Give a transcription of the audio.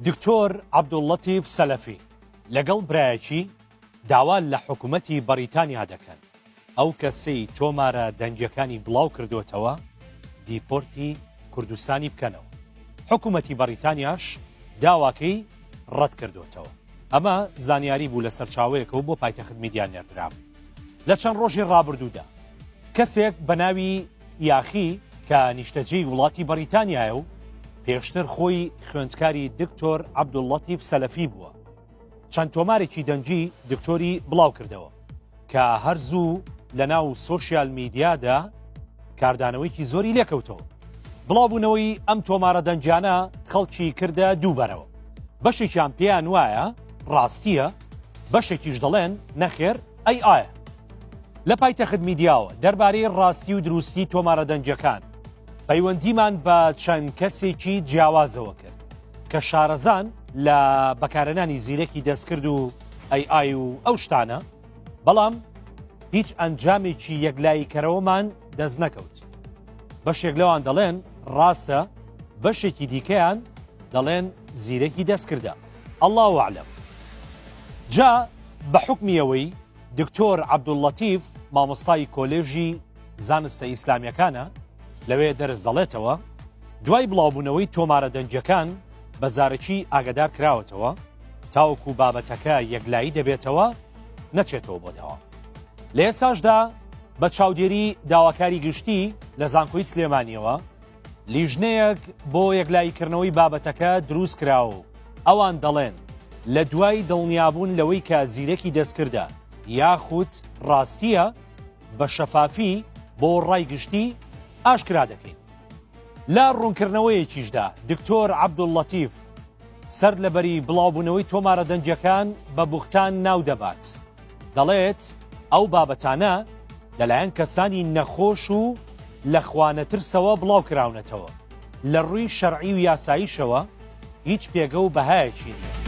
دکتۆر عەبدوللەتیف سەلەفی لەگەڵ برایەکی داوا لە حکومەتی بەریتانیا دەکەن ئەو کەسەی تۆمارە دەنگیەکانی بڵاو کردوتەوە دیپۆرتی کوردستانی بکەنەوە حکوومەتی بەریتانیاش داواکەی ڕەت کردوتەوە ئەمە زانیاری بوو لە سەرچاوەیەکەوە بۆ پایتەخت میدیا نێردرام لە چەند ڕۆژی ڕابردوودا کەسێک بە ناوی یاخی کە نیشتەجێی وڵاتی بەریتانیایە و پێشتر خۆی خوێندکاری دکتۆر عەبدوڵڵەتیف سەلەفی بووە چەند تۆمارێکی دەنگی دکتۆری بڵاو کردەوە کە هەر زوو لە ناو سۆسیال میدیادا کاردانەوەیکی زۆری لێکەوتەوە بڵاوبوونەوەی ئەم تۆمارە دەنجانە خەڵکی کردە دووبەرەوە بەشێکیان پێیان وایە ڕاستیە بەشێکیش دەڵێن نەخێر ئەی ئایا لە پایتەخت میدیاوە دەربارەی ڕاستی و دروستی تۆمارە دەنگیەکان پەیوەندیمان بە چەند کەسێکی جیاوازەوە کرد کە شارەزان لە بەکارەنانی زیرەکی دەستکرد و ئەی ئای و ئەو شتانە بەڵام هیچ ئەنجامێکی یەکلایی کەرەوەمان دەست نەکەوت بەشێک لەوان دەڵێن ڕاستە بەشێکی دیکەیان دەڵێن زیرەکی دەستکردە ئەڵاوەعلم جا بە حکمیەوەی دکتۆر عەبدوللەتیف مامۆستای کۆلێژی زانستە ئیسلامیەکانە لەوێ دەرس دەڵێتەوە دوای بڵاوبوونەوەی تۆمارە دەنجەکان بە زارەکی ئاگدار کراوەتەوە تاوەکو بابەتەکە یەکلایی دەبێتەوە نەچێتەوە بۆ داوا لە ئێساشدا بە چاودێری داواکاری گشتی لە زانکۆی سلێمانیەوە لیژنەیەک بۆ یەکلاییکردنەوەی بابەتەکە دروست کرا و ئەوان دەڵێن لە دوای دڵنیابوون لەوەی کە زیرەکی دەستکردە یاخود ڕاستیە بە شەفافی بۆ ڕای گشتی ئاشکرا دەکەین لە ڕوونکردنەوەیەکیشدا دکتۆر عەبدوڵلەتیف سەر لەبەری بڵاوبوونەوەی تۆمارە دەنجەکان بە بوختان ناو دەبات. دەڵێت، ئەو بابەتانە لەلایەن کەسانی نەخۆش و لە خوانەترسەوە بڵاوکراونەتەوە، لە رووی شەرعی و یاساییشەوە هیچ پێگە و بەهایەکی نییە.